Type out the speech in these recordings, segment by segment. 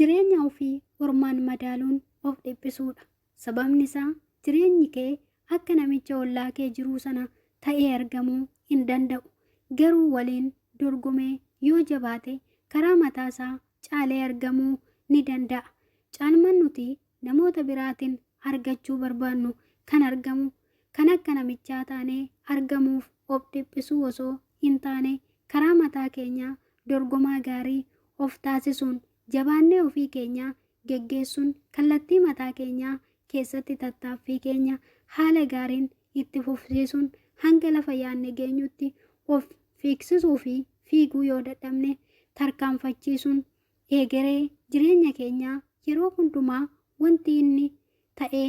Jireenya ofii ormaan madaaluun of dhiphisuudha. Sababni isaa jireenyi kee akka namicha ollaa kee jiruu sana ta'ee argamuu hin danda'u. Garuu waliin dorgomee yoo jabaate karaa mataa isaa caalee argamuu ni danda'a. Caalmaan nuti namoota biraatiin argachuu barbaannu kan argamu kan akka namichaa taanee argamuuf of dhiphisuu osoo hin taane karaa mataa keenyaa dorgomaa gaarii of taasisuun jabaannee ofii keenyaa geggeessuun kallattii mataa keenyaa keessatti tattaaffii keenya haala gaariin itti fufsiisuun hanga lafa yaadne geenyutti of fiigsisuu fi fiiguu yoo dadhabne tarkaanfachiisuun eegeree jireenya keenyaa yeroo hundumaa wanti inni ta'ee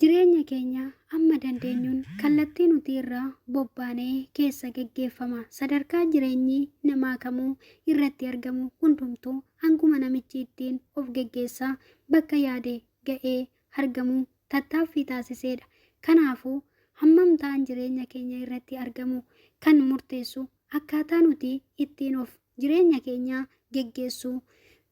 Jireenya keenya amma dandeenyuun kallattii nuti irra bobbaanee keessa geggeeffama. Sadarkaa jireenyi namaa kamuu irratti argamu hundumtuu hanguma namichi ittiin of geggeessaa bakka yaade ga'ee argamu tattaaffii taasiseedha. Kanaafuu hammam ta'an jireenya keenya irratti argamu kan murteessu akkaataa nuti ittiin of jireenya keenya geggeessuu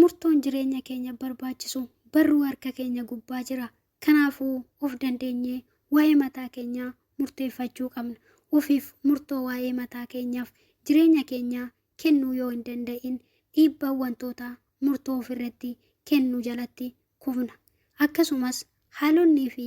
Murtoon jireenya keenya barbaachisu barruu harka keenya gubbaa jira. Kanaafuu of dandeenyee waa'ee mataa keenyaa murteeffachuu qabna. Ofiif murtoo waa'ee mataa keenyaaf jireenya keenyaa kennuu yoo hin danda'in dhiibbaa wantoota murtoo ofirratti kennu jalatti kufna. Akkasumas haalonnii fi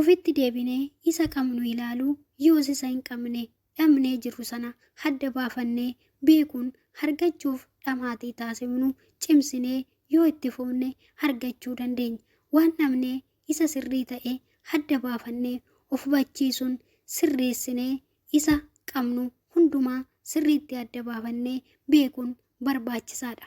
Ufitti deebinee isa qabnu ilaaluu yoos isa hin qabne dhabnee jirru sana hadda baafannee beekuun hargachuuf dhamaatii taasifnu cimsinee yoo itti fufne argachuu dandeenya. Waan dhabnee isa sirrii ta'e hadda baafannee of hubachiisuun sirreessinee isa qabnu hundumaa sirriitti adda baafannee beekuun barbaachisaadha.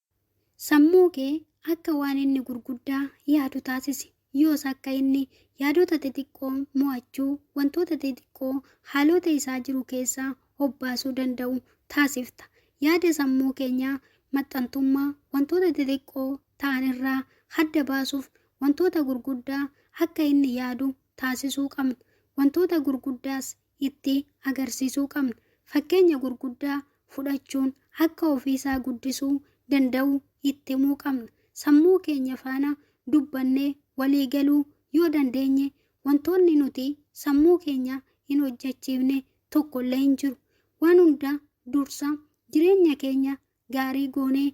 Sammuu kee akka waan inni gurguddaa yaadu taasisi. Yoos akka inni yaadota xixiqqoo mo'achuu, wantoota xixiqqoo haalota isaa jiru keessaa obbaasuu danda'u taasifta. Yaada sammuu keenya maxxantummaa wantoota xixiqqoo ta'an irraa hadda baasuuf wantoota gurguddaa akka inni yaadu taasisuu qabna. Wantoota gurguddaas itti agarsiisuu qabna. Fakkeenya gurguddaa fudhachuun akka ofiisaa guddisuu danda'u itti himuu qabna. Sammuu keenya faana dubbannee walii galuu yoo dandeenye wantoonni nuti sammuu keenya hin hojjechiifne tokkollee hin jiru. Waan hunda dursa jireenya keenya gaarii goonee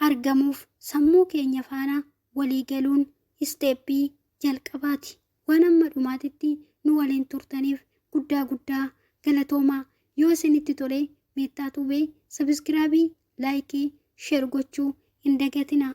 argamuuf sammuu keenya faana walii galuun isteeppii jalqabaati. Waan amma dhumaatitti nu waliin turtaniif guddaa guddaa galatoomaa. Yoo isinitti tole Meettaa Tuubee sabiskiraabii, laayikii, sheer gochuu hin dagatinaa.